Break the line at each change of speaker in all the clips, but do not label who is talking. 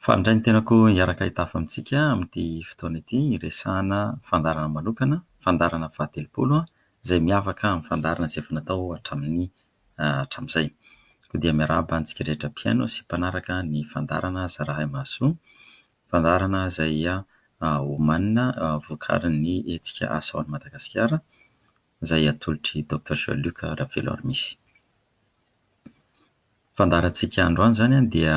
Fandray ny tenako hiaraka hitafa amintsika amin'ity fotoana ity hiresahana fandaharana manokana, fandaharana fahatelopolo, izay miavaka amin'ny fandaharana izay efa natao hatramin'ny hatramin'izay. Koa dia miarahaba antsika rehetra mpihaino sy mpanaraka ny fandaharana Zarahay Mahasoa, fandaharana izay omanina vokarin'ny hetsika Asao an'i Madagasikara. izay atolotr'i Doctor Jean Luc Raveloarmisy. Fandaharantsika androany izany dia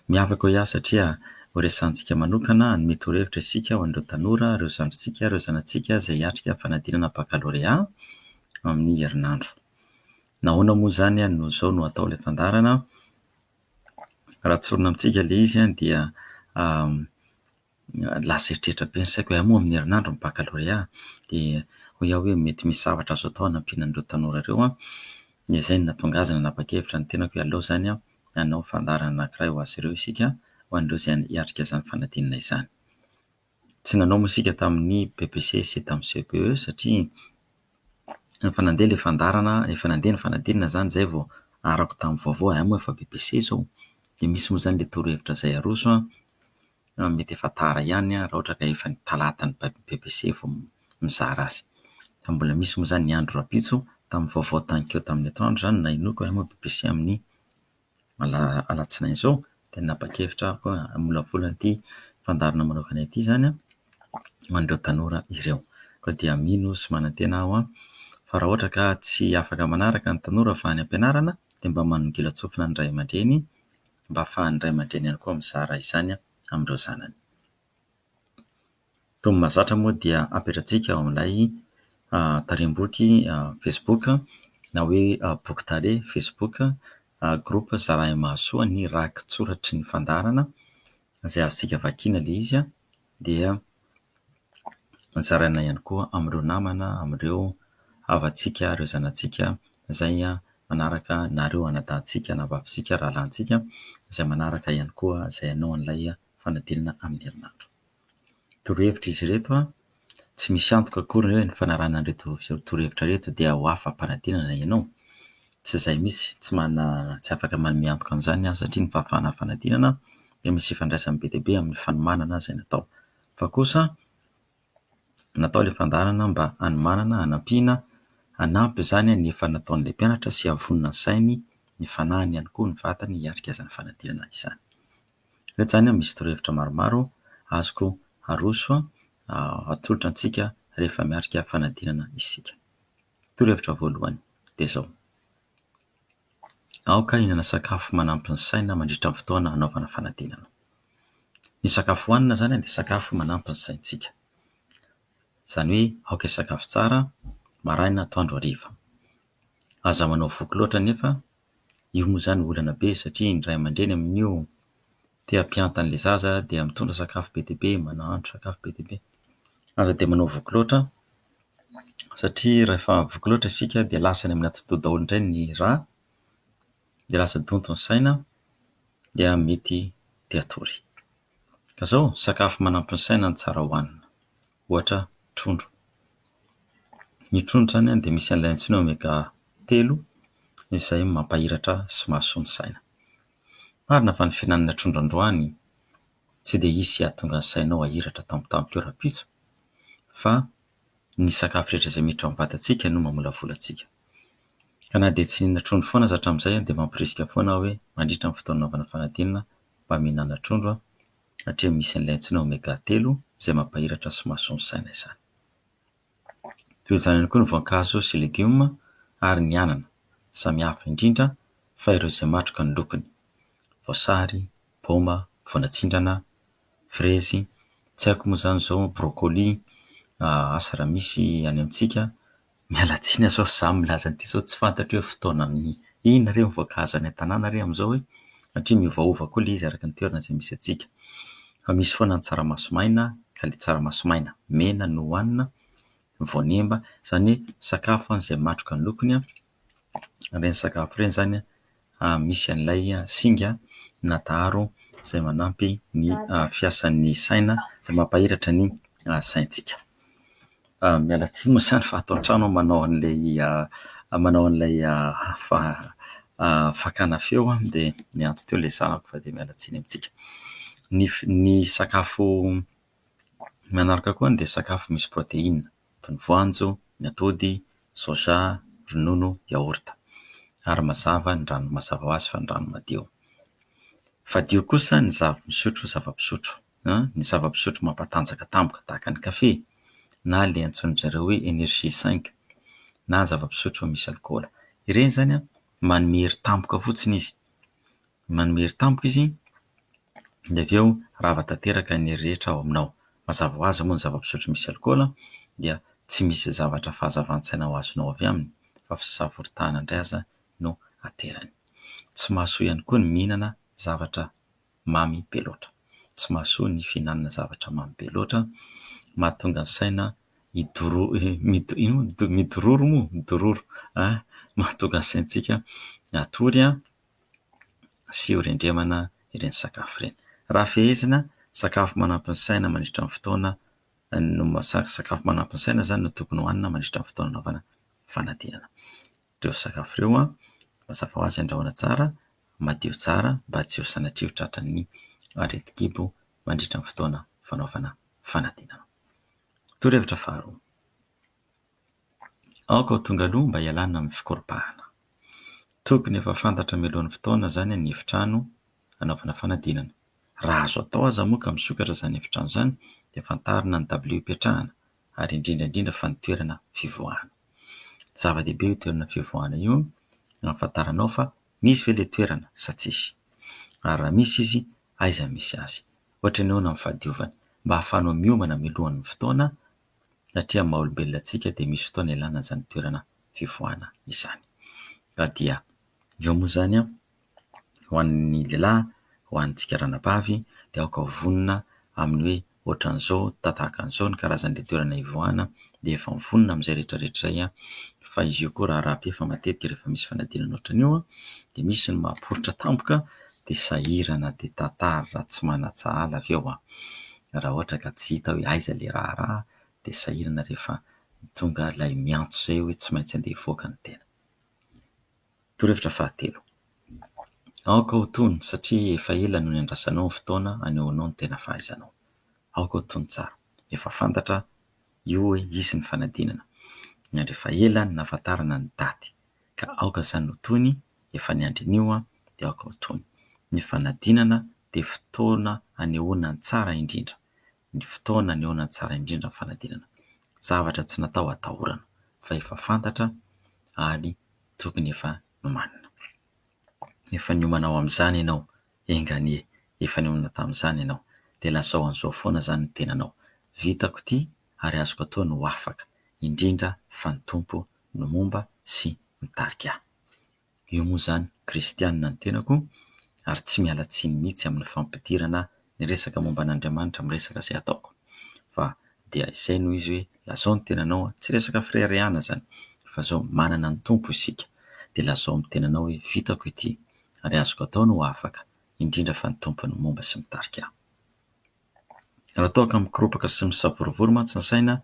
miavaka ho ahy satria horesahantsika manokana, hanome torohevitra isika ho an'ireo tanora, ireo zandrintsika, ireo zanatsika izay hiatrika ny fanadinana bakalorea amin'ny herinandro. Nahoana moa izany no izao no atao ilay fandaharana? Raha tsorina amintsika ilay izy dia lasa eritreritra be ny saiko hoe hay moa amin'ny herinandro ny baccalauréat dia hoy aho hoe mety misy zavatra azo atao hanampiana an'ireo tanora ireo an, dia izay no nahatonga azy nanapa-kevitra ny tenako hoe aleo izany an hanao fandaharana anankiray ho azy ireo isika ho an'ireo izay hiatrika izany fanadinana izany. Tsy nanao moa isika tamin'ny BEPC sy tamin'ny CEPE satria efa nandeha ilay fandaharana, efa nandeha ny fanadinana izany izay vao arako tamin'ny vaovao hoe hay moa efa BEPC izao dia misy moa izany ilay torohevitra izay aroso an. Mety efa tara ihany raha ohatra ka efa ny talata ny BEPC vao mizara azy. Fa mbola misy moa izany ny andro rahampitso, tamin'ny vaovao tanikeo tamin'ny atoandro izany no nahenoako hoe hamoa BEPC amin'ny ala alatsinainy izao dia nanapa-kevitra aho koa hamolavola an'ity fandaharana manokana ity izany ho an'ireo tanora ireo. Koa dia mino sy manantena aho fa raha ohatra ka tsy afaka manaraka ny tanora fa any am-pianarana dia mba manongilan-tsofina ny ray aman-dreny mba ahafahan'ny ray aman-dreny ihany koa mizara izany amin'ireo zanany. Toa mahazatra moa dia ampiandratsika ao amin'ilay tarem-boky Facebook na hoe boky tale Facebook, groupe Zalahy Mahasoa ny rakitsoratry ny fandaharana izay azontsika vakiana ilay izy dia zaraina ihany koa amin'ireo namana, amin'ireo havantsika, ireo zanatsika izay manaraka na ireo anadahintsika na vavintsika, rahalahintsika izay manaraka ihany koa izay hanao an'ilay fanadinana amin'ny herinandro. Torohevitra izy ireto, tsy misy antoka akory hoe ny fanarahana an'ireto torohevitra ireto dia ho afa-panadinana ianao. Tsy izay mihitsy, tsy manana, tsy afaka manome antoka an'izany ny ahy satria ny fahafahana fanadinana dia misy ifandraisany be dia be amin'ny fanomanana izay natao. Fa kosa natao ilay fandaharana mba hanomanana, hanampiana, hanampy izany ny efa nataon'ilay mpianatra sy hahavonona ny sainy, ny fanahiny ihany koa, ny vatany hiatrika izany fanadinana izany. Ireto izany misy torohevitra maromaro azoko aroso atolotra antsika rehefa miatrika fanadinana isika. Torohevitra voalohany dia izao, aoka hihinana sakafo manampy ny saina mandritra ny fotoana hanaovana fanadinana. Ny sakafo hohanina izany dia sakafo manampy ny saintsika. Izany hoe aoka hisakafo tsara maraina, atoandro, hariva. Aza manao voky loatra anefa. Io moa izany olana be satria ny ray aman-dreny amin'io te hampianta an'ilay zaza dia mitondra sakafo be dia be, mahandro sakafo be dia be. Aza dia manao voky loatra satria rehefa voky loatra isika dia lasa any amin'ny atidoha daholo indray ny rà, dia lasa donto ny saina dia mety te hatory. Ka izao, sakafo manampy ny saina no tsara hohanina. ohatra trondro. Ny trondro izany dia misy an'ilay antsoina hoe omega telo izay mampahiratra sy mahasoa ny saina. Marina fa ny fihinanana trondro androany tsy dia hisy hahatonga ny sainao hahiratra tampotampoka eo rahampitso fa ny sakafo rehetra izay miditra ao am-batantsika no mamolavola antsika. Ka na dia tsy nihinana trondro foana aza hatramin'izay dia mamporisika foana aho hoe mandritra ny fotoana hanaovana fanadinana mba mihinana trondro aho. satria misy an'ilay antsoina Omega telo izay mampahiratra sy mahasoa ny saina izany. Toy izany ihany koa ny voankazo sy legioma ary ny anana, samy hafa indrindra fa ireo izay matroka ny lokony, voasary, paoma, voanatsindrana, frezy, tsy haiko moa izany izao brocoli asa raha misy any amintsika. Miala tsiny azafady fa za milaza an'ity sao tsy fantatro hoe fotoana inona re ny voankazo any an-tanàna re am'zao e, satria miovaova koa le izy araka ny toerana zay misy antsika. Fa misy foana ny tsaramaso maina ka le tsaramaso maina mena no hohanina, voanemba, zany hoe sakafo an zay matroka ny lokony an, reny sakafo reny zany an, misy an'ilay singa na daharo izay manampy ny fiasan'ny saina, izay mampahiratra ny saintsika. Miala tsiny moa izany fa ato an-trano aho manao an'ilay manao an'ilay fa- fakana feo dia miantso teo ilay zanako fa dia miala tsiny amintsika. Ny f- ny sakafo. Ny manaraka koa dia sakafo misy protéine toy ny voanjo, ny atody, soja, ronono, yaourt ary mazava ny rano mazava ho azy fa ny rano madio. Fadio kosa ny zava-misotro zava-pisotro, ny zava-pisotro mampatanjaka tampoka tahaka ny kafe na le antsoin-dry zareo hoe energy cinq na zava-pisotro misy alikaola. Ireny izany manome hery tampoka fotsiny izy. Manome hery tampoka izy, dia avy eo rava tanteraka ny hery rehetra ao aminao. Mazava ho azy moa ny zava-pisotro misy alikaola dia tsy misy zavatra fahazavan-tsaina ho azonao avy aminy fa fisavoritahana indray aza no aterany. Tsy mahasoa ihany koa ny mihinana zavatra mamy be loatra. Tsy mahasoa ny fihinanana zavatra mamy be loatra, mahatonga ny saina hidoro- mido- ino moa? midororo moa? midororo, mahatonga ny saintsika hatory, sy ho rendremana ireny sakafo ireny. Raha fehezina, sakafo manampy ny saina mandritra ny fotoana no mahasahy, sakafo manampy ny saina izany no tokony hohanina mandritra ny fotoana anaovana fanadinana. Ireo sakafo ireo mazava ho azy andrahoina tsara, madio tsara mba tsy ho sanatria ho tratran'ny aretin-kibo mandritra ny fotoana fanaovana fanadinana. Torohevitra faharoa. Aoka ho tonga aloha mba hialana amin'ny fikoropahana. Tokony efa fantatra mialoha ny fotoana izany ny efitrano hanaovana fanadinana. Raha azo atao aza moa ka misokatra izany efitrano izany dia fantarina ny dabilio hipetrahana ary indrindra indrindra fa ny toerana fivoahana. Zava-dehibe io toerana fivoahana io hahafantaranao fa misy ve ilay toerana sa tsisy. Ary raha misy izy aiza misy azy. Ohatra ny ahoana ny fahadiovany mba hahafahanao miomana mialohan'ny fotoana. satria amin'ny maha-olombelona antsika dia misy fotoana ilana izany toerana fivoahana izany. Ka dia eo moa izany ho an'ny lehilahy, ho antsika ranabavy dia aoka ho vonona amin'ny hoe ohatran'izao, tahaka an'izao ny karazan'ilay toerana hivoahana dia efa mivonona amin'izay rehetra rehetra izay. Fa izy io koa raharaha be fa matetika rehefa misy fanadinana ohatran'io dia misy ny maha-poritra tampoka dia sahirana dia tantara raha tsy manatsahala avy eo an! raha ohatra ka tsy hita hoe aiza ilay raharaha dia sahirana rehefa tonga ilay miantso izay hoe tsy maintsy andeha hivoaka ny tena. Torohevitra fahatelo, aoka ho tony satria efa ela no niandrasanao ny fotoana hanehoanao ny tena fahaizanao. Aoka ho tony tsara. Efa fantatra io hoe hisy ny fanadinana, ary efa ela no nahafantarana ny daty, ka aoka izany ho tony efa niandry an'io aho dia aoka ho tony. Ny fanadinana dia fotoana anehoana ny tsara indrindra, ny fotoana anehoana ny tsara indrindra ny fanadinana. Zavatra tsy natao hatahorana fa efa fantatra ary tokony efa nomanina. Efa niomana ho amin'izany ianao, enga anie, efa niomana tamin'izany ianao dia lazao an'izao foana izany ny tenanao, vitako ity ary azoko atao ny ho afaka, indrindra fa ny Tompo no momba sy mitarika ahy. Eo moa izany kristianina ny tenako ary tsy miala tsiny mihitsy amin'ny fampidirana ny resaka momba an'Andriamanitra amin'ny resaka izay ataoko fa dia izay no izy hoe lazao ny tenanao, tsy resaka fireharehana izany fa izao manana ny Tompo isika dia lazao amin'ny tenanao hoe vitako ity ary azoko atao ny ho afaka indrindra fa ny Tompo no momba sy mitarika ahy. Raha toa ka mikoropaka sy misavorovoro mantsy ny saina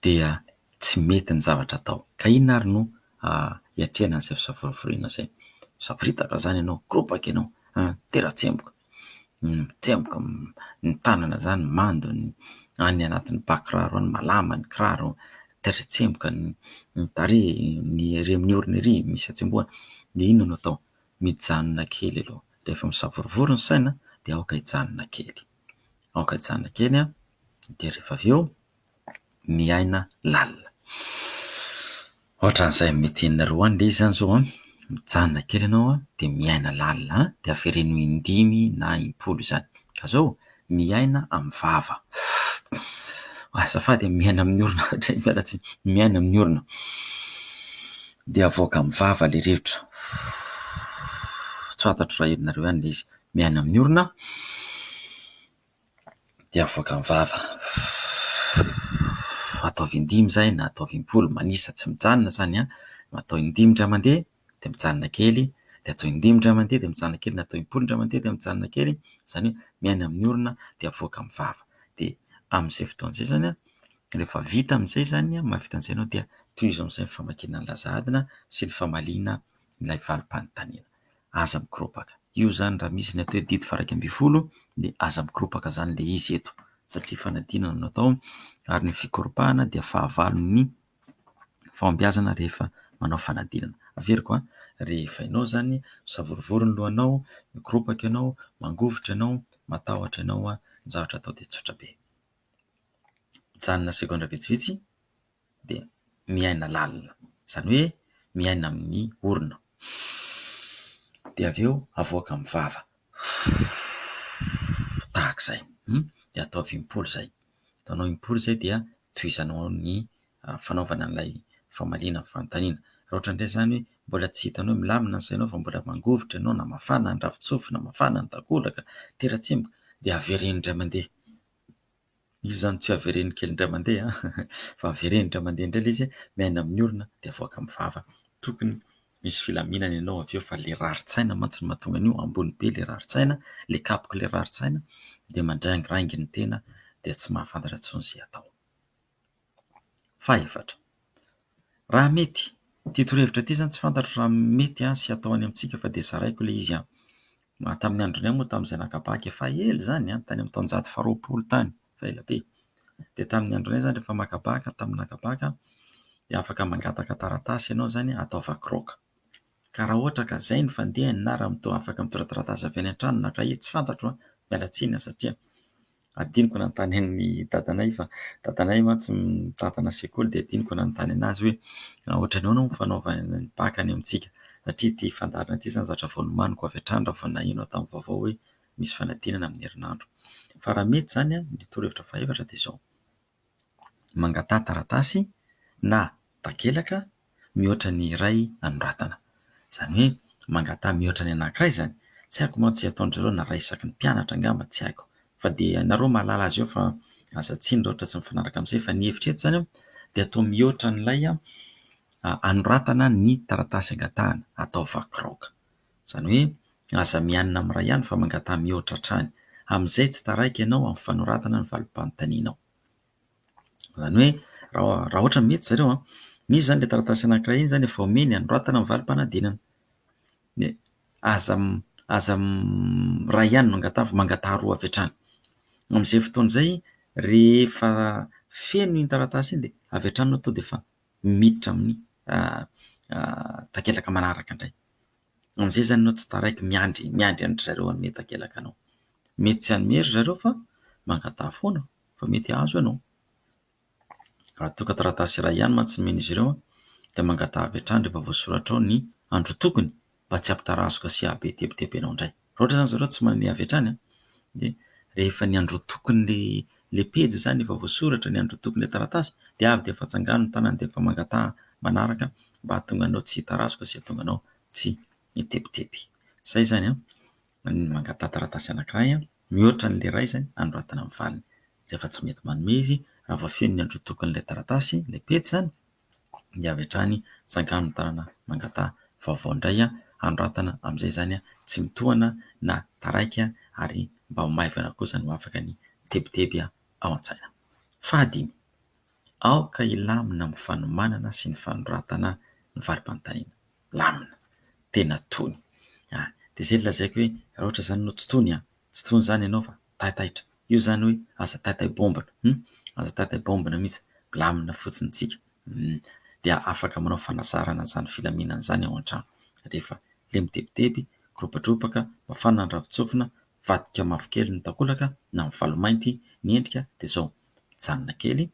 dia tsy mety ny zavatra atao. Ka inona ary no hiatrehana izay fisavorovoriana izay? Misavoritaka izany ianao, mikoropoka ianao, mitera-tsemboka, mitsemboka ny tanana izany mando any anatin'ny bà kiraro any, malama ny kiraro, mitera-tsemboka ny tarehy, ny ery amin'ny orona ery misy hatsembohana. Dia inona no atao? Mijanona kely aloha. Rehefa misavorovoro ny saina dia aoka hijanona kely. Aoka hijanona kely dia rehefa avy eo... miaina lalina. Ohatran'izay mety henonareo any ilay izy zany zao an, mijanona kely ianao an, dia miaina lalina an, dia avereno ho in-dimy na im-polo izany, ka zao miaina amin'ny vava, azafady e, miaina amin'ny orona hatrizay, miala tsiny, miaina amin'ny orona, dia avoaka amin'ny vava ilay rivotra, tsy fantatro raha henonareo ihany ilay izy, miaina amin'ny orona. dia avoaka ny vava. Ataovy in-dimy izay na ataovy im-polo, manisa tsy mijanona izany an! Atao in-dimy indray mandeha dia mijanona kely, dia atao in-dimy indray mandeha dia mijanona kely, atao im-polo indray mandeha dia mijanona kely, izany hoe miaina amin'ny orona dia avoaka ny vava. Dia amin'izay fotoana izay izany an, rehefa vita amin'izay izany an, mahavita an'izay ianao dia tohizo amin'izay ny famakiana ny laza adina sy ny famaliana ilay valim-panontaniana. aza mikoropaka. Io izany raha misy ny atao hoe didy varaika ambin'ny folo dia aza mikoropaka izany ilay izy eto satria fanadinana no atao ary ny fikoropahana dia fahavalon'ny fahombiazana rehefa manao fanadinana. Averiko an! Rehefa ianao izany misavorovoro ny lohanao, mikoropaka ianao, mangovitra ianao, matahotra ianao, ny zavatra atao dia tsotra be. Mijanona segondra vitsivitsy. dia miaina lalina, izany hoe miaina amin'ny orona. Dia avy eo avoaka amin'ny vava tahaka izay, dia ataovy im-pory izay, ataonao im-pory izay dia tohizanao ny fanaovana an'ilay famaliana ny fanontaniana. Raha ohatra indray izany hoe mbola tsy hitanao milamina ny sainao fa mbola mangovitra ianao na mafana ny ravin-tsofina, mafana ny takolaka, tera-tsemboka dia avereno indray mandeha. Izy izany tsy avereno kely indray mandeha fa avereno indray mandeha indray ilay izy, miaina amin'ny orona dia avoaka amin'ny vava. Tokony hisy filaminana ianao avy eo fa ilay rarin-tsaina mantsy no mahatonga an'io, ambony be ilay rarin-tsaina, ilay kapoka ilay rarin-tsaina dia mandraingiraingy ny tena dia tsy mahafantatra intsony izay atao. Fahefatra, raha mety, ity torohevitra ity izany tsy fantatro raha mety an sy atao any amintsika fa dia zaraiko ilay izy an! tamin'ny andronay moa tamin'izay naka bac efa ela izany an! tany amin'ny taonjato faharoapolo tany fa ela be! dia tamin'ny andronay izany rehefa maka bac tamin'ny naka bac an! dia afaka mangataka taratasy ianao izany an! ataova croc ka raha ohatra ka izay no fandehany na raha mitoa afaka mitondra taratasy avy any an-trano na kahie tsy fantatro an! miala tsiny an! satria Adinoko nanontany an'i dadanay fa dadanay mantsy mitantana sekoly dia adinoko nanontany anazy hoe ohatran'ny ahoana moa ny fanaovana ny bacc any amintsika satria ity fandaharana ity izany zavatra vao nomaniko avy hatrany raha vao naheno tamin'ny vaovao hoe misy fanadinana amin'ny herinandro. Fa raha mety izany an, ny torohevitra fahaefatra dia izao. mangataha taratasy na takelaka mihoatra ny iray anoratana. Izany hoe mangataha mihoatra ny anankiray izany. Tsy haiko mantsy izay ataon-dry zareo na iray isaky ny mpianatra angamba, tsy haiko. Fa dia ianareo mahalala azy eo fa aza tsino raha ohatra tsy mifanaraka amin'izay. Fa ny hevitra eto izany dia atao mihoatra an'ilay anoratana ny taratasy angatahana, atao vakiraoka. Izany hoe, aza mianina amin'ny iray ihany fa mangataha mihoatra hatrany. Amin'izay tsy taraiky ianao amin'ny fanoratana ny valim-panontanianao. Izany hoe, raha raha ohatra ny mety zareo, misy izany ilay taratasy anankiray iny izany efa omeny anoratana ny valim-panadinana. Dia aza aza iray ihany no angataha fa mangataha roa avy hatrany. Amin'izay fotoana izay rehefa feno iny taratasy iny dia avy hatrany aloha tonga dia efa miditra amin'ny takelaka manaraka indray. Amin'izay izany ianao tsy taraiky miandry miandry an-dry zareo hanome takelaka anao. Mety tsy hanome ry zareo fa mangataha foana fa mety hahazo ianao. Raha toa ka taratasy iray ihany mantsy no omen'izy ireo dia mangataha avy hatrany rehefa voasoratra ao ny andro tokony mba tsy hampitarazoka sy hahabe tebiteby anao indray. Raha ohatra izany izy ireo tsy manome avy hatrany dia rehefa ny androtokon'ilay pejy izany efa voasoratra, ny androtokon'ilay taratasy dia avy dia efa tsangano ny tanany dia efa mangataha manaraka mba hahatonga anao tsy hitarazoka sy hahatonga anao tsy hitebiteby. Izay izany an! Ny mangataha taratasy anankiray mihoatra an'ilay iray izany anoratana ny valiny. Rehefa tsy mety manome izy raha voafehin'ny androtokon'ilay taratasy ilay pejy izany dia avy hatrany tsangano ny tanana mangataha vaovao indray hanoratana amin'izay izany tsy mitohana na taraiky ary mba ho maivana kosa no afaka ny tebiteby ao an-tsaina. Fahadimy, aoka hilamina amin'ny fanomanana sy ny fanoratana ny varipantaina. Lamina, tena tony. Dia izay no lazaiko hoe raha ohatra izany ianao tsy tony, tsy tony izany ianao fa. taitaitra io izany hoe aza taitaibombina hum aza taitaibombina mihitsy, milamina fotsiny isika hum dia afaka manao fanazarana izany filaminana izany ao an-trano rehefa le mitebiteby, mikoropadrobaka, mafana ny ravin-tsofina, mivadika mavokely ny takolaka na mivalo mainty ny endrika dia izao, mijanona kely,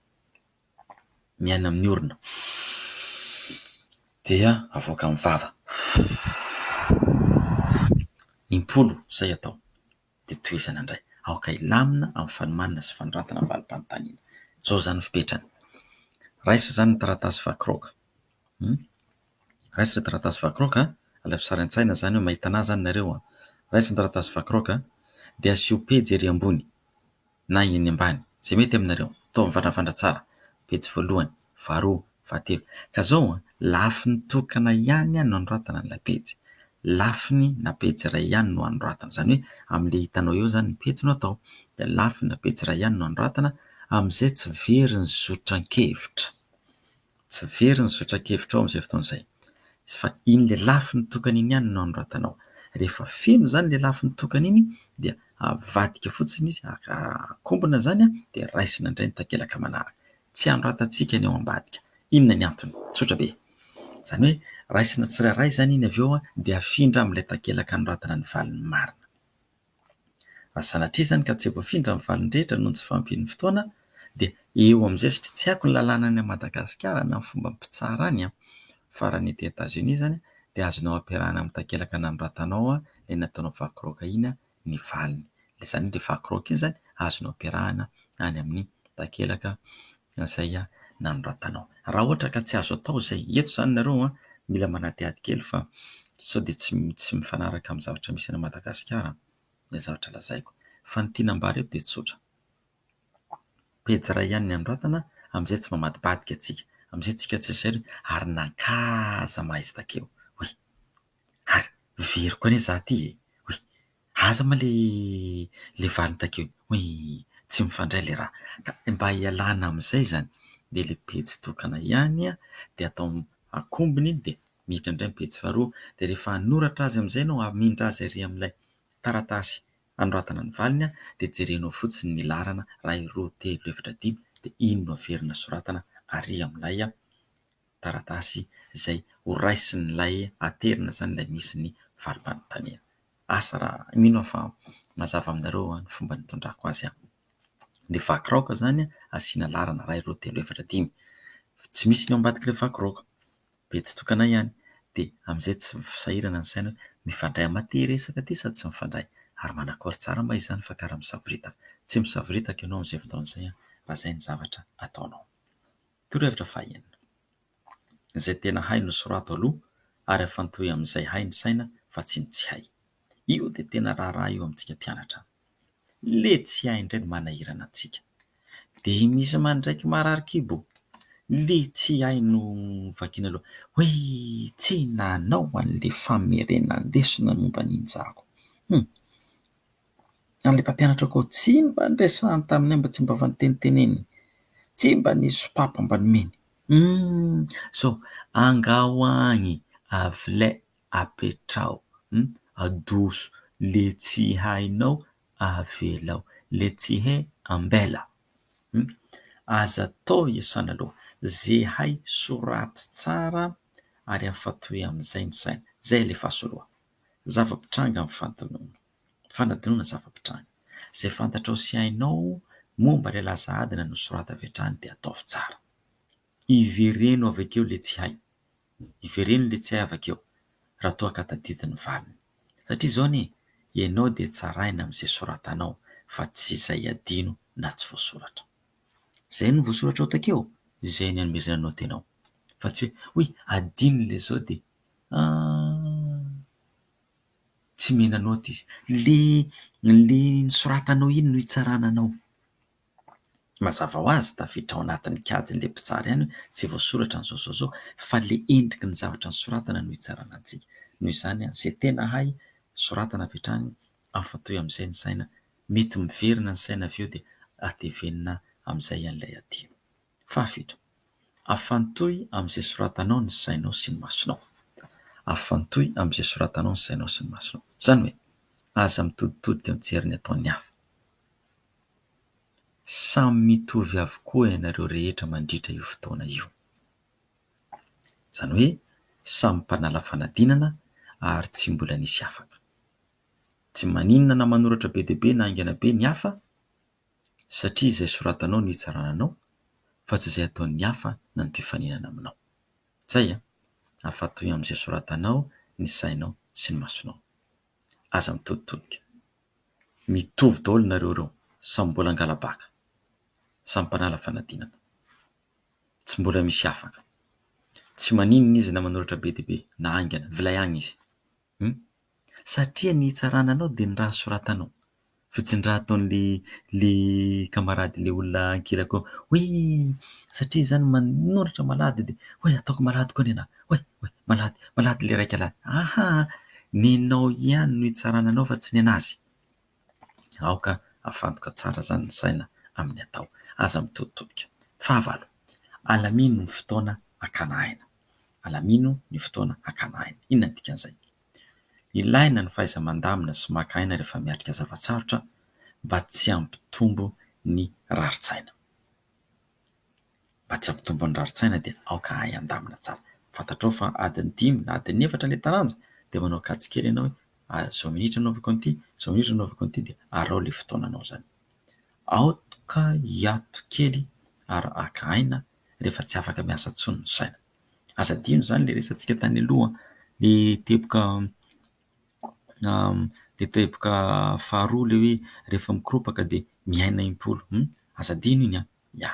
miaina amin'ny orona dia avoaka amin'ny vava, impolo izay atao. dia tohizana indray. Aoka hilamina amin'ny fanomanana sy fanoratana ny valim-panontaniana. Izao izany ny fepetrany, raiso izany ny taratasy vakiraoka, raiso ny taratasy vakiraoka, alaivo sary an-tsaina izany hoe mahita an'ahy izany nareo, raiso ny taratasy vakiraoka dia asio pejy ery ambony. na eny ambany, izay mety aminareo, atao mivandravandra tsara, pejy voalohany, faharoa, fahatelo, ka izao an, lafiny tokana ihany no anoratana an'ilay pejy, lafiny na pejy iray ihany no anoratana, izany hoe amin'ilay hitanao eo izany ny pejy no atao, dia lafiny na pejy iray ihany no anoratana, amin'izay tsy very ny zotran-kevitra. Tsy very ny zotran-kevitrao amin'izay fotoana izay. Fa iny lelafiny tokana iny ihany no anoratanao. Rehefa feno izany lelafiny tokana iny dia avadika fotsiny izy, akombona izany dia raisina indray ny takelaka manaraka. Tsy anoratantsika ny ao ambadika. Inona ny antony? Tsotra be. Izany hoe raisina tsirairay izany iny avy eo dia afindra amin'ilay takelaka anoratana ny valiny marina. Ary sanatria izany ka tsy voafindra ny valiny rehetra noho ny tsy fahampian'ny fotoana dia eo amin'izay satria tsy haiko ny lalàna any Madagasikara na ny fomba mpitsara any an! fa raha ny ety Etazonia izany dia azonao ampiarahana amin'ny takelaka nanoratanao ilay nataonao vaky raoka iny ny valiny. Izany hoe ilay vaky raoka iny izany azonao ampiarahana any amin'ny takelaka izay nanoratanao. Raha ohatra ka tsy azo atao izay eto izany nareo an, mila manadihady kely fa sao dia tsy tsy mifanaraka amin'ny zavatra misy any Madagasikara ilay zavatra lazaiko. Fa ny tiana ambara eto dia tsotra, pejy iray ihany ny anoratana amin'izay tsy mamadibadika antsika, amin'izay antsika tsy zairy ary nankà aza mahaizy takeo. Oui. Ary very koa anie za ty e! Oy! Aza ma le le valiny takeo oy! Tsy mifandray le raha! Ka mba hialana amin'izay izany dia le pejy tokana ihany dia atao akombony iny dia miditra indray ny pejy faharoa dia rehefa hanoratra azy amin'izay ianao hamindra azy ary amin'ilay taratasy hanoratana ny valiny dia jerenao fotsiny ny laharana iray roa telo efatra dimy dia iny no averina soratana ary amin'ilay taratasy izay horaisin'ilay aterina izany ilay misy ny valim-panontaniana. Asa raha mino aho fa mazava aminareo ny fomba nitondrako azy. Ny vaky raoka izany asiana laharana iray, roa, telo, efatra, dimy. Tsy misy ny ao ambadik'ilay vaky raoka. Be tsy tokana ihany. Dia amin'izay tsy sahirana ny saina hoe mifandray aminà ity resaka ity sa tsy mifandray? Ary manakory tsara moa izany fa karaha misavoritaka. Tsy misavoritaka ianao amin'izay fotoana izay raha izay ny zavatra ataonao. Torohevitra fahenina. Izay tena hay no sorato aloha ary afantohy amin'izay hay ny saina fa tsy ny tsy hay. Io dia tena raharaha eo amintsika mpianatra. Le tsy hay indray no manahirana antsika. Dia misy mandraiky marary kibo. Le tsy hay no vakiana loha. Hoe tsy nanao an'le famerenan-desona momba ny injako. Hum. An'ilay mpampianatra koa, tsy mba niresahany taminay mba tsy mba avy niteniteneny, tsy mba nisy sopapo mba nomeny. Humm zao, angaho agny avilay apetraho, humm adoso le tsy hainao avelao, le tsy hay ambela, humm aza atao iasana loha, ze hay soraty tsara ary afatoy amin'izay ny saina, zay alefaso loha, zava-pitranga amin'ny fanononana. Fanadinoana zava-pitranga. Izay fantatrao sy hainao momba ilay laza adina nosorata avy hatrany dia ataovy tsara. Ivereno avy akeo ilay tsy hay. Ivereno ilay tsy hay avy akeo raha toa ka tadidy ny valiny. Satria izao anie, ianao dia tsaraina amin'izay soratanao fa tsy izay adino na tsy voasoratra. Izay no voasoratrao takeo, izay no anomezana anao tena ao. Fa tsy hoe, hoy, adino ilay izao dia, ah! Tsy mena note izy. Le le nosoratanao iny no hitsarana anao. Mazava ho azy tafiditra ao anatin'ny kajin'ilay mpitsara ihany hoe tsy voasoratra ny zao zao zao fa le endriky ny zavatra nosoratana no hitsarana antsika. Noho izany ze tena hay soratana avy hatrany afantohy amin'izay ny saina, mety miverina ny saina avy eo dia atevenina amin'izay an'ilay aty. Fahafito, afantohy amin'izay soratanao ny sainao sy ny masonao. Afantohy amin'izay soratanao ny sainao sy ny masonao. Izany hoe, aza mitoditodika mijery ny ataon'ny hafa. Samy mitovy avokoa ianareo rehetra mandritra io fotoana io. Izany hoe, samy mpanala fanadinana ary tsy mbola nisy afaka. Tsy maninona na manoratra be dia be na haingana be ny hafa, satria izay soratanao no hitsarana anao fa tsy izay ataon'ny hafa na ny mpifaninana aminao. Izay e! Afatoy amin'izay soratanao ny sainao sy ny masonao. Aza mitoditodika. Mitovy daholo nareo ireo, samy mbola angala-baka, samy mpanala fanadinana. Tsy mbola misy afaka. Tsy maninona izy na manoratra be dia be na haingana, vilay agny izy. Hum. Satria ny hitsarana anao dia ny raha soratanao. Fotsiny raha ataon'le le camarade le olona ankilako hoe satria izy zany manoratra malady dia hoe ataoko malady koa nenah, hoe hoe malady malady le raika lady, ahaa! nenao ihany no hitsarana anao fa tsy nenazy. Aoka hafantoka tsara izany ny saina amin'ny atao. Aza mitoditodika. Fahavalo, alamino ny fotoana hakana aina. Alamino ny fotoana hakana aina. Inona no dikan'izay? Ilaina ny fahaiza-mandamina sy maka aina rehefa miatrika zava-tsarotra mba tsy hampitombo ny rarin-tsaina. mba tsy hampitombo ny rarin-tsaina dia aoka hahay handamina tsara. Fantatrao fa adiny dimy na adiny efatra ilay taranja dia manao kajy kely ianao hoe izao minitra no anaovako an'ity, izao minitra no anaovako an'ity dia araho ilay fotoananao izany. Aoka hiato kely ary haka aina rehefa tsy afaka miasa intsony ny saina. Aza adino izany ilay resahantsika tany aloha, ilay teboka... na le teboka faharoa le hoe rehefa mikoropaka dia miaina impolo hum aza adino iny an! ya!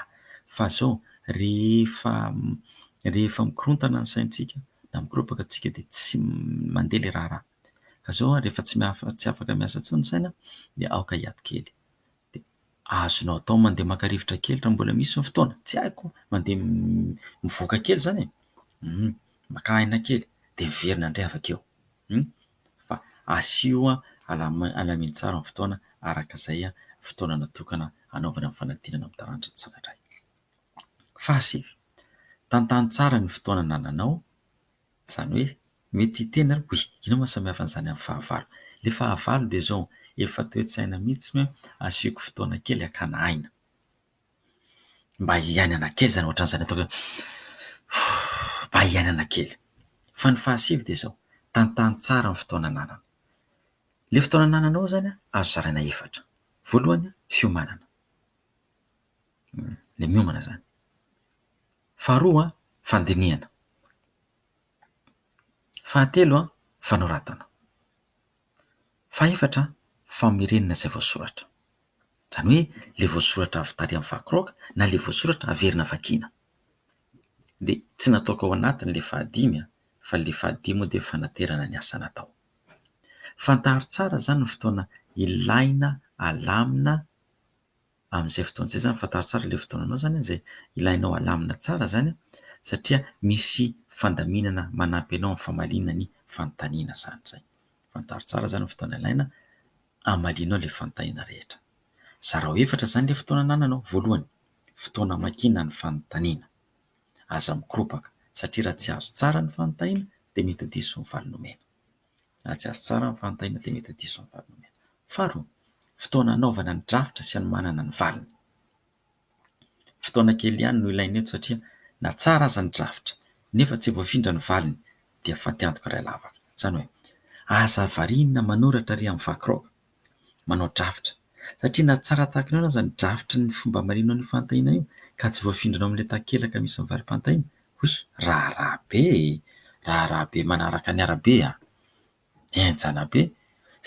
fa zao rehefa rehefa mikorontana ny saintsika na mikoropaka tsika dia tsy mandeha le raharaha ka zao rehefa tsy afaka miasa intsony ny saina dia aoka hiady kely dia azonao atao mandeha maka rivotra kely raha mbola misy ny fotoana, tsy haiko, mandeha mivoaka kely izany e, maka aina kely dia miverina indray avy akeo, fa asio alamino tsara ny fotoana araka izay fotoana natokana hanaovana ny fanadinana amin'ny taranaka tsirairay. Fahasivy, tantano tsara ny fotoana anananao. Izany hoe mety hiteny ary hoe inona no samy hafa an'izany amin'ny fahavalo? Ilay fahavalo dia izao, efa toe-tsaina mihitsy ny hoe asiako fotoana kely hakana aina. Mba hiainana kely izany, ohatran'izany ataoko hoe mba hiainana kely. Fa ny fahasivy dia izao, tantano tsara ny fotoana ananana. Ilay fotoana anananao izany an, azo zaraina efatra. Voalohany, fiomanana. Ilay miomana izany. Faharoa, fandinihana. Fahatelo, fanoratana. Fahefatra, famerenana izay voasoratra. Izany hoe ilay voasoratra avy tary amin'ny vakiraoka na ilay voasoratra averina vakiana. Dia tsy nataoko ao anatiny ilay fahadimy an, fa ilay fahadimy moa dia fanaterana ny asa natao. Fantaro tsara izany ny fotoana ilaina alamina. amin'izay fotoana izay izany, fantaro tsara ilay fotoana anao izany izay ilainao halamina tsara izany satria misy fandaminana manampy anao amin'ny famaliana ny fanontaniana izany izay. Fantaro tsara izany ny fotoana ilaina hamalianao ilay fanontaniana rehetra. Zarao efatra izany ilay fotoana anananao, voalohany, fotoana hamakiana ny fanontaniana, aza mikoropaka satria raha tsy azo tsara ny fanontaniana dia mety ho diso ny valiny omena. Hahatsiaro tsara ny fanontaniana teny Tadidio sy ny valiny omena. Faharoa, fotoana hanaovana ny drafitra sy hanomanana ny valiny. Fotoana kely ihany no ilaina eto satria na tsara aza ny drafitra nefa tsy voafindra ny valiny dia faty antoka iray lavaka. Izany hoe, aza variana manoratra ary amin'ny vakiraoka. manao drafitra satria na tsara tahaka ny ahoana aza ny drafitry ny fomba amareno an'io fantahiana io ka tsy voafindranao amin'ilay takelaka misy ny valim-pantahiana, hoy i. Raharaha be e! raharaha be manaraka ny arabe a! Henjana be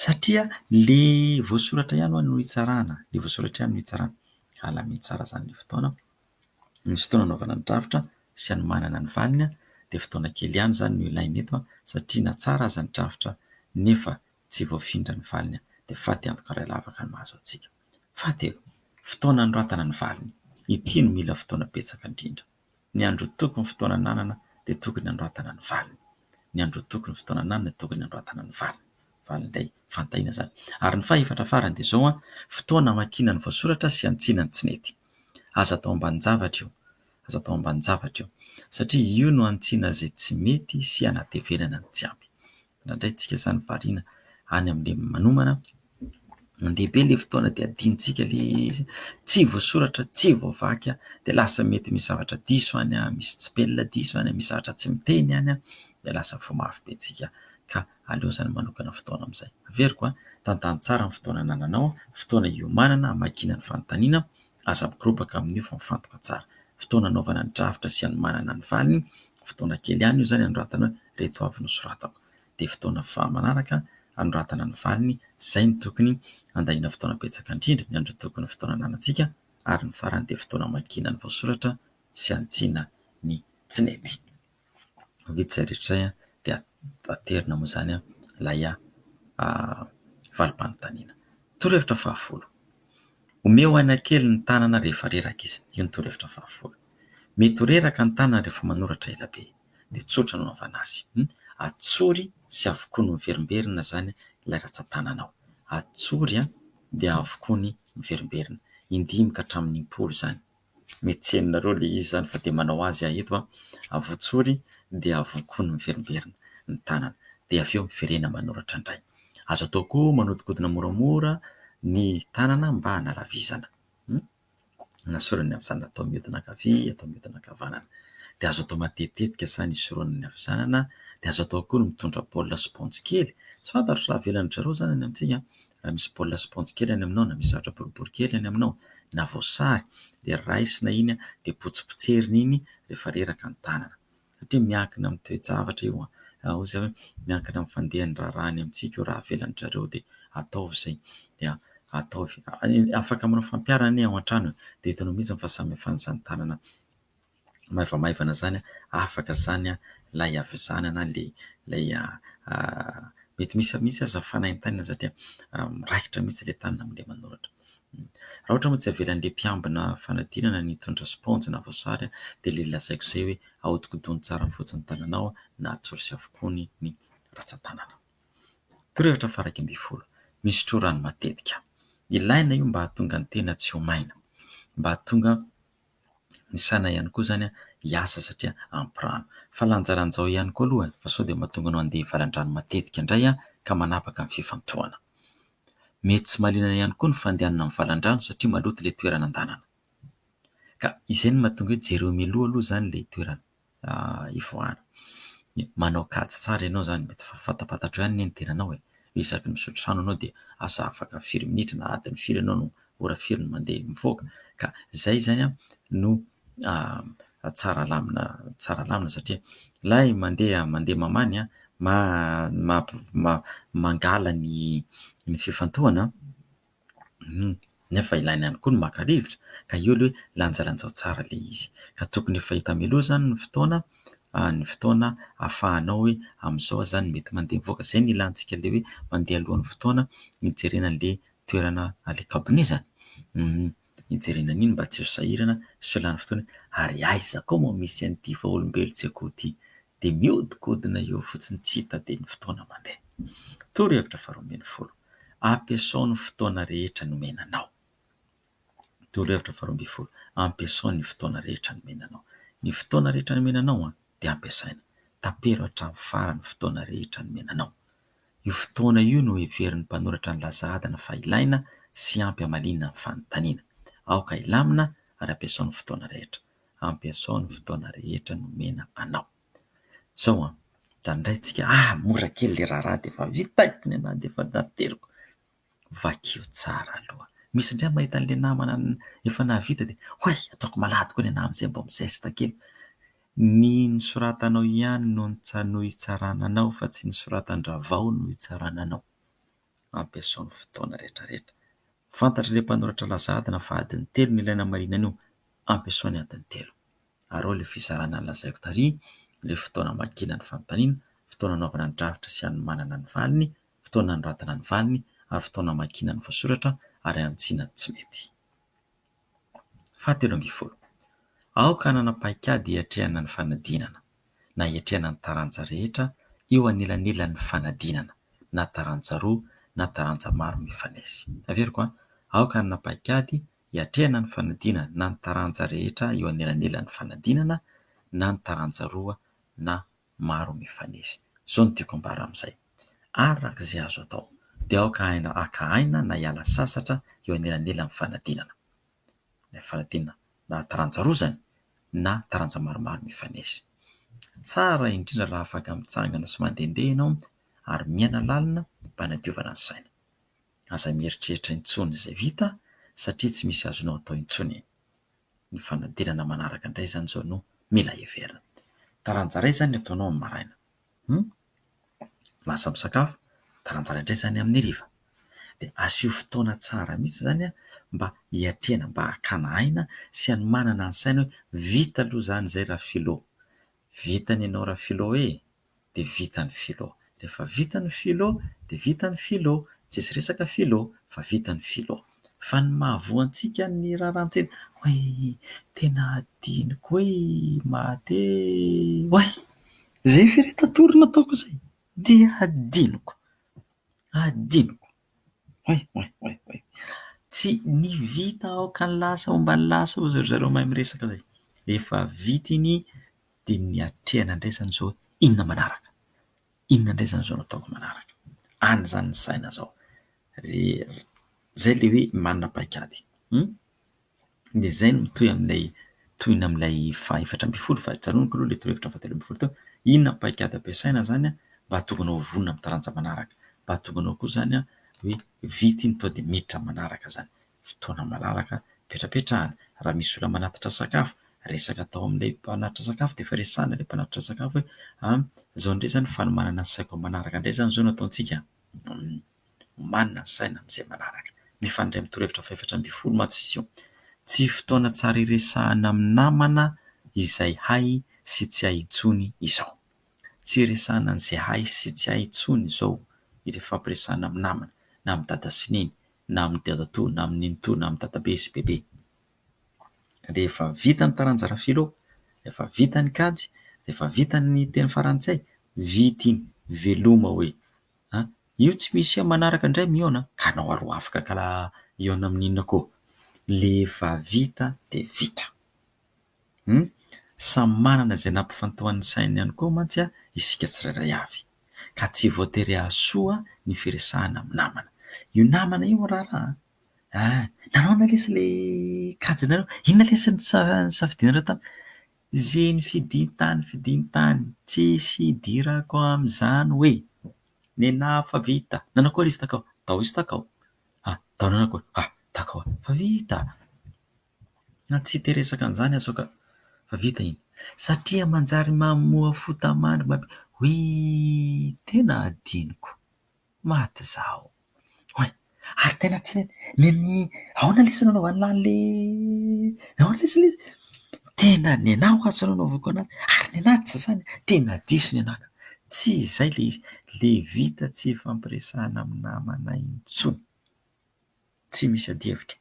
satria ilay voasoratra ihany ho'a no hitsarana, ilay voasoratra ihany no hitsarana. Ka alamino tsara izany ilay fotoana, misy fotoana anaovana ny drafitra sy anomanana ny valiny dia fotoana kely ihany izany no ilaina eto satria na tsara aza ny drafitra nefa Tsy voafindra ny valiny an! Dia faty antoka ray lavaka no mahazo antsika. Faty e! Fotoana anoratana ny valiny. Ity no mila fotoana betsaka indrindra. Ny androtoky ny fotoana ananana dia tokony anoratana ny valiny. Ny androtoky ny fotoana ananana dia tokony anoratana ny valiny. Valiny indray fantahiana izany. Ary ny faha efatra farany dia izao an! Fotoana amakiana ny voasoratra sy hantsina ny tsy nety. Aza atao ambanin-javatra io. Aza atao ambanin-javatra io. Satria io no hantsina izay tsy mety sy hanatevenana ny tsy ampy. Nandraintsika izany variana any amin'ny lehiben'ny manomana. Mandeha be ilay fotoana dia adinontsika ilay izy, tsy voasoratra, tsy voavaky dia lasa mety misy zavatra diso any, misy tsipelina diso any, misy zavatra tsy miteny any dia lasa vao mafy be antsika ka aleo izany manokana fotoana amin'izay. Averiko, tantano tsara ny fotoana anananao, fotoana iomanana, hamakiana ny fanontaniana, aza mikorobaka amin'io fa mifantoka tsara. Fotoana hanaovana ny drafitra sy hanomanana ny valiny, fotoana kely ihany io izany hanoratana hoe. ireto avy nosoratako. Dia fotoana faha manaraka hanoratana ny valiny, izay no tokony handaniana fotoana betsaka indrindra, ny andro tokony ho fotoana ananantsika, ary ny farany dia fotoana hamakiana ny voasoratra sy hantsina ny tsy nety. Vita izay rehetra izay dia aterina moa izany ilay valim-panontaniana. Torohevitra fahafolo, omeo aina kely ny tanana rehefa reraka izy. Io ny torohevitra fahafolo. Mety ho reraka ny tanana rehefa manoratra ela be. dia tsotra no anaovana azy. Atsory sy avokoa no miverimberina izany ilay ratsan-tananao. Atsory dia avokoa ny miverimberina. Indimy ka hatramin'ny impolo izany. Mety tsy henonareo ilay izy izany fa dia manao azy aho eto, avotsory dia avokoa ny miverimberina ny tanana. Dia avy eo miverena manoratra indray. Azo atao koa manodikodina moramora ny tanana mba hanalavizana. Anasoran'ny havizanana atao mihodina ankavia, atao mihodina ankavanana. Dia azo atao matetitetika izany ny hisoronana ny havizanana, dia azo atao koa ny mitondra baolina sy paompy kely. Tsy fantatro raha avelan'ny dry zareo izany any amintsika, raha misy baolina sy paompy kely any aminao na misy zavatra boribory kely any aminao na voasary dia raisina iny dia potsipotserina iny rehefa reraka ny tanana. satria miankina amin'ny toe-javatra io an! raha ohatra izay hoe miankina amin'ny fandehan'ny raharaha any amintsika io raha avela an-dry zareo dia ataovy izay dia ataovy, afaka manao fampiharana anie ao an-trano e! dia hitanao mihitsy fa samy hafan'izany tanana maivamaivana izany an! afaka izany an! ilay havizanana ilay ilay mety misy misy aza fanaintainana satria miraikitra mihitsy ilay tanana amin'ilay manoratra. Raha ohatra moa tsy avelan'ilay mpiambina fanadinana ny hitondra spaonjy na voasary dia ilay lazaiko izay hoe ahodinkodino tsara fotsiny ny tananao na atsory sy avokoa ny ratsan-tanana. Torohevitra faha iraika ambin'ny folo, misotroa rano matetika. Ilaina io mba hahatonga ny tena tsy ho maina, mba hahatonga. ny saina ihany koa izany hiasa satria ampy rano. Fa lanjalanjao ihany koa aloha fa sao dia mahatonga anao handeha hivalan-drano matetika indray ka manapaka ny fifantohana. Mety tsy mahaliana ihany koa ny fandehanana mivalan-drano satria maloto ilay toerana andehanana. Ka izay no mahatonga hoe jereo mialoha aloha izany ilay toerana. hivoahana. Manao kajy tsara ianao izany mety fa fantapantatrao ihany anie ny tenanao e! isaky ny misotro rano ianao dia asa afaka firy minitra na adiny firy ianao no ora firy no mandeha mivoaka ka izay izany no tsara alamina tsara alamina satria ilay mandeha mandeha mamany an ma- ma- mangala ny ny fifantohana Hum, nefa ilaina ihany koa ny maka rivotra ka io aloha hoe lanjalanjao tsara ilay izy. Ka tokony efa hita mialoha izany ny fotoana, ny fotoana ahafahanao hoe amin'izao aho izany no mety mandeha mivoaka. Izay no ilantsika ilay hoe mandeha alohan'ny fotoana hijerena an'ilay toerana, an'ilay kaominezana. Hum, hijerena an'iny mba tsy ho sahirana sy ho lany fotoana hoe ary aiza koa moa misy an'ity vaolombelon-tsekoho ity? Dia mihodinkodina eo fotsiny tsy hita dia ny fotoana mandeha. Torohevitra faharoa ambin'ny folo. Ampiasao ny fotoana rehetra nomena anao. Torohevitra faharoa ambin'ny folo, ampiasao ny fotoana rehetra nomena anao. Ny fotoana rehetra nomena anao dia ampiasaina. Tapero hatramin'ny farany ny fotoana rehetra nomena anao. Io fotoana io no heverin'ny mpanoratra ny laza adina fa ilaina sy ampy hamaliana ny fanontaniana. Aoka hilamina ary ampiasao ny fotoana rehetra. Ampiasao ny fotoana rehetra nomena anao. Izao an, raha indray tsika ah mora kely ilay raharaha dia efa vita eh, ny anah dia efa nateriko, vakio tsara aloha, misy indray mahita an'ilay namana efa nahavita dia oay ataoko malady koa ny anah amin'izay mba mi-zeste kely, ny nosoratanao ihany no no hitsarana anao fa tsy ny soratan-dRavao no hitsarana anao. ampiasao ny fotoana rehetrarehetra. Fantatr' ilay mpanoratra laza adina fa adiny telo no ilaina hamarinana io, ampiasao ny adiny telo. Ary ao ilay fizarana nolazaiko tary, ilay fotoana hamakiana ny fanontaniana, fotoana hanaovana ny drafitra sy hanomanana ny valiny, fotoana hanoratana ny valiny ary fotoana hamakiana ny voasoratra ary hanitsiana ny tsy mety. Fahatelo ambin'ny folo, aoka hanana paikady hiatrehana ny fanadinana, na hiatrehana ny taranja rehetra eo anelanelan'ny fanadinana, na taranja roa na taranja maro mifanesy. Averiko an! Aoka hanana paikady hiatrehana ny fanadinana, na ny taranja rehetra eo anelanelan'ny fanadinana, na ny taranja roa na. maro mifanesy. Izao no tiako ambara amin'izay. Araka izay azo atao, dia aoka hahaina haka aina na hiala sasatra eo anelanelan'ny fanadinana. Ilay fanadinana na taranja roa izany na taranja maromaro mifanesy. Tsara indrindra raha afaka mitsangana sy mandehandeha ianao ary miaina lalina mba hanadiovana ny saina. Aza mieritreritra intsony izay vita satria tsy misy azonao atao intsony e! Ny fanadinana manaraka indray izany izao no mila heverina. Taranja iray izany ny ataonao amin'ny maraina. Hum? Lasa misakafo, taranja iray indray izany amin'ny hariva. Dia asio fotoana tsara mihitsy izany an, mba hiatrehana, mba hakana aina sy hanomanana ny saina hoe vita aloha izany izay Rafilo. Vita ny anao Rafilo e! dia vita ny philo, rehefa vita ny philo dia vita ny philo, tsisy resaka philo fa vita ny philo, fa ny mahavoa antsika ny raharahantena oay! tena adinoko oay! mahate oay! zay ve re tatory nataoko zay dia adinoko, adinoko. Oay oay oay oay. Tsy ny vita aoka ny lasa homba ny lasa hoy ry zareo mahay miresaka izay. Rehefa vita iny dia ny hatrehana andraisana izao hoe inona manaraka, inona indray izany izao no ataoko manaraka. Any izany ny saina izao. Izay ilay hoe manana paikady. dia izay no mitohy amin'ilay tohiny amin'ilay fahaefatra ambin'ny folo fa tsarovako aloha ilay torohevitra fahatelo ambin'ny folo teo, inona ny paikady ampiasaina izany an, mba hahatonga anao vonona amin'ny taranja manaraka, mba hahatonga anao koa izany hoe vita iny tonga dia miditra amin'ny manaraka izany, fotoana malalaka ipetrapetrahana, raha misy olona manatitra sakafo, resaka atao amin'ilay mpanatitra sakafo dia efa resahina ilay mpanatitra sakafo hoe an izao indray izany ny fanomanana ny saiko amin'ny manaraka indray izany izao no ataontsika an. Omanina ny saina amin'izay manaraka. Mifandray amin'ny torohevitra fahaefatra ambin'ny folo mantsy izy io. Tsy fotoana tsara iresahana amin'ny namana izay hay sy tsy hay intsony izao. Tsy iresahana an'izay hay sy tsy hay intsony izao ny fifampiresahana amin'ny namana, na amin'i dada sy neny, na amin'i dadatoa, na amin'i nenitoa, na amin'i dadabe sy bebe. Rehefa vita ny taranja ara-filo, rehefa vita ny kajy, rehefa vita ny teny farantsay, vita iny, veloma hoe. an! io tsy misy an! manaraka indray mihaona an! ka anao ary ho afaka ka la hihaona amin'ny inona koa? le efa vita de vita hum! samy manana izay nampifantohan'ny sainy ihany koa mantsy an! isika tsirairay avy ka tsy voatery hahasoa ny firesahana amin'ny namana, io namana io raharaha an! an! nahoana lesy le kajinareo? inona lesy ny nisafidianareo tamiko? Zeny fidintany fidintany tsisy idirako amzany hoe nenah fa vita nanakory izy takao tao izy takao ah tao nanakory ah takao fa vita na tsy te resaka anzany aho sao ka fa vita iny satria manjary mamoa fota mandry ma oui tena adinoko. Maty izaho. Oay! Ary tena tsy nen'i aona lesy nanaovany lahy an'ilay aona lesy ilay izy? Tena nenah ho'azy no nanaovako an'azy, ary nenah tsy izany, tena diso nenah ka! Tsy izay ilay izy, ilay vita tsy ifampiresahana amin'ny namana intsony. Tsy misy adihevitra.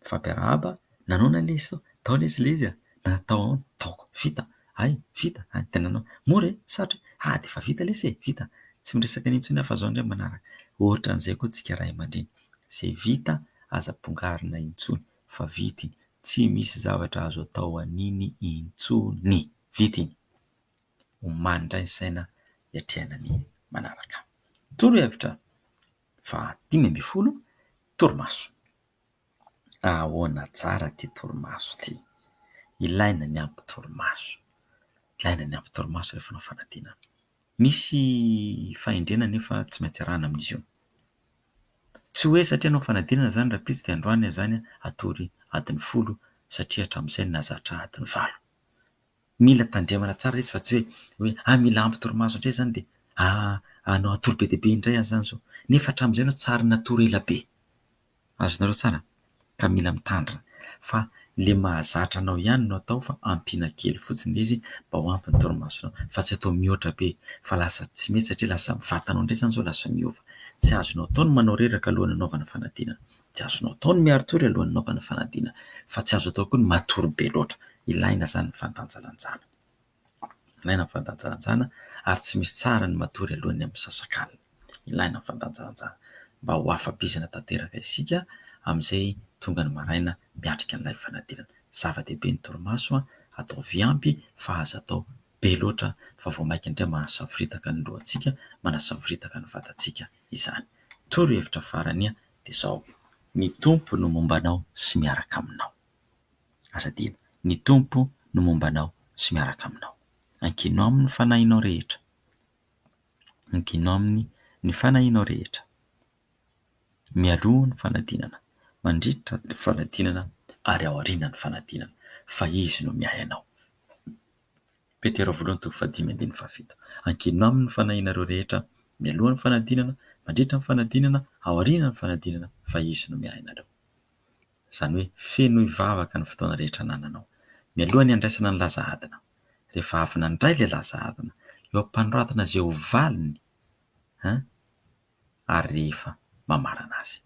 Nifampiarahaba, Nanona lesy sao? Tao lesy lezy a! Na tao ahoana? Taoko, Vita? Hay, vita? Hay, dia nanao, Mora e! Sarotra e! Hay, dia efa vita lesy e! Vita? Tsy miresaka an'iny intsony aho fa izao indray manaraka. Ohatran'izay koa tsika ray aman-dreny. Izay vita aza bongarina intsony fa vita iny. Tsy misy zavatra azo atao an'iny intsony. Vita iny. Omaly indray ny saina hiatrehana ny manaraka. Torohevitra fahadimy ambin'ny folo, torimaso. Ahaona tsara ity torimaso ity. Ilaina ny ampy torimaso. Ilaina ny ampy torimaso rehefa manao fanadinana. Misy fahendrena anefa tsy maintsy arahina amin'izy io. Tsy hoe satria hanao fanadinana izany rahampitso dia androany izany hatory adiny folo satria hatramin'izay nahazatra adiny valo. Mila tandremana tsara ilay izy fa tsy hoe ah mila ampy torimaso indray izany dia ah hatory be dia be indray aho izany izao. Nefa hatramin'izay aloha tsy ary natory ela be. Azonareo tsara? Ka mila mitandrina fa le mahazatra anao ihany no atao fa ampiana kely fotsiny le izy mba ho ampy ny torimasonao fa tsy atao mihoatra be fa lasa tsy mety satria lasa ny vatanao indray zany zao lasa miova. Tsy azonao atao ny manao reraka alohan'ny anaovana fanadinana, tsy azonao atao ny miari-tory alohan'ny anaovana fanadinana fa tsy azo atao koa ny matory be loatra. Ilaina zany ny fandanjalanjana. Ilaina ny fandanjalanjana ary tsy misy tsara ny matory alohan'ny amin'ny misasakalina. Ilaina ny fandanjalanjana mba ho afa-bizina tanteraka isika amin'izay tonga ny maraina miatrika an'ilay fanadinana. Zava-dehibe ny torimaso, ataovy ampy fa aza atao be loatra fa vao mainka indray manasavoritaka ny lohantsika, manasavoritaka ny vatantsika izany. Torohevitra farany dia izao, Ny Tompo no momba anao sy miaraka aminao. Aza adino, ny Tompo no momba anao sy miaraka aminao. Ankino Aminy ny fanahinao rehetra. Ankino Aminy ny fanahinao rehetra. Mialoha ny fanadinana, mandritra ny fanadinana ary aoriana ny fanadinana fa Izy no miahy anao. Petera voalohany toko fahadimy ambin'ny fahafito. Ankino Aminy ny fanahinareo rehetra, mialoha ny fanadinana, mandritra ny fanadinana, aoriana ny fanadinana fa Izy no miahy anareo. Izany hoe fenoy vavaka ny fotoana rehetra anananao. Mialoha ny handraisana ny laza adina, rehefa avy nandray ilay laza adina, eo am-panoratana izay ho valiny an, ary rehefa mamarana azy.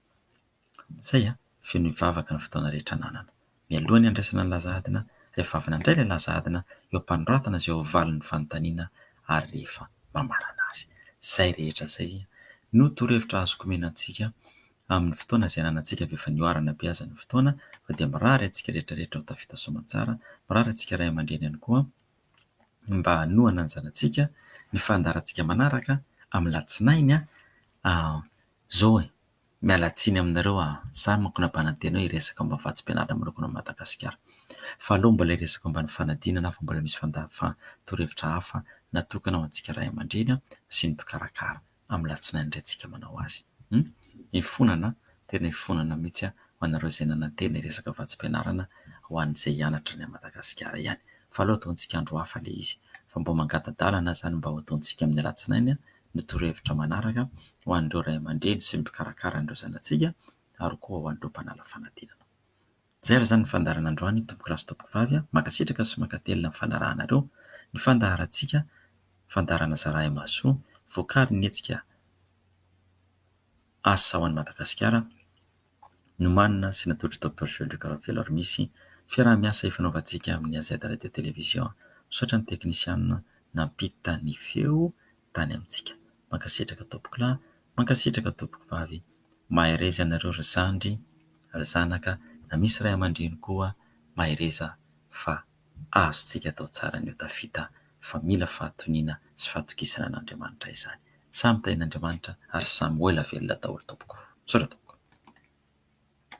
Izay an, fenoy vavaka ny fotoana rehetra ananana. Mialoha ny handraisana ny laza adina, rehefa avy nandray ilay laza adina, eo am-panoratana izay ho valiny ny fanontaniana, ary rehefa mamarana azy. Izay rehetra izay no torohevitra azoko omena antsika Amin'ny fotoana izay ananantsika avy efa nihoarana be aza ny fotoana fa dia mirary antsika rehetra rehetra ho tafita soamantsara, mirary antsika ray aman-dreny ihany koa mba hanohana ny zanatsika ny fandaharantsika manaraka amin'ny latsinainy an! zao e! miala tsiny aminareo an! za manko nabanan-tena hoe hiresaka momba ny vatsim-pianarana manokana ao Madagasikara fa aleo mbola hiresaka momba ny fanadinana fa mbola misy fandaha-torohevitra hafa natokana ho antsika ray aman-dreny sy ny mpikarakara. amin'ny latsinainy indray tsika manao azy. Hum! Ifonana an! Tena ifonana mihitsy an! Ho anareo izay nanantena hiresaka vatsim-pianarana ho an'izay hianatra any Madagasikara ihany. Fa aleo ataontsika andro hafa ilay izy. Fa mba mangata-dalana izany mba ho ataontsika amin'ny alatsinainy ny torohevitra manaraka ho an'ireo ray aman-dreny sy ny mpikarakara an'ireo zanatsika ary koa ho an'ireo mpanala fanadinana. Zay ary zany ny fandaharana androany tompokolahy sy tompokovavy a! Mankasitraka sy mankatelina ny fanarahanareo ny fandaharantsika, fandaharana Zarahay Mahasoa, voakarin'ny hetsika Asa ho an'i Madagasikara, nomanina sy natolotry Doctor Joël Rekaravelo ary misy fiaraha-miasa ifanaovantsika amin'ny AZ Radio Télévision. Misaotra ny teknisianina nampita ny feo tany amintsika. Mankasitraka tompoko lahy, mankasitraka tompoko vavy. Mahereza ianareo ry zandry, ry zanaka na misy ray aman-dreny koa mahereza fa azontsika atao tsara ny ho tafita fa mila fahatoniana sy fahatokisana an'Andriamanitra izany. Samy tahin'Andriamanitra ary samy ho ela velona daholo tompoko. Misaotra tompoko.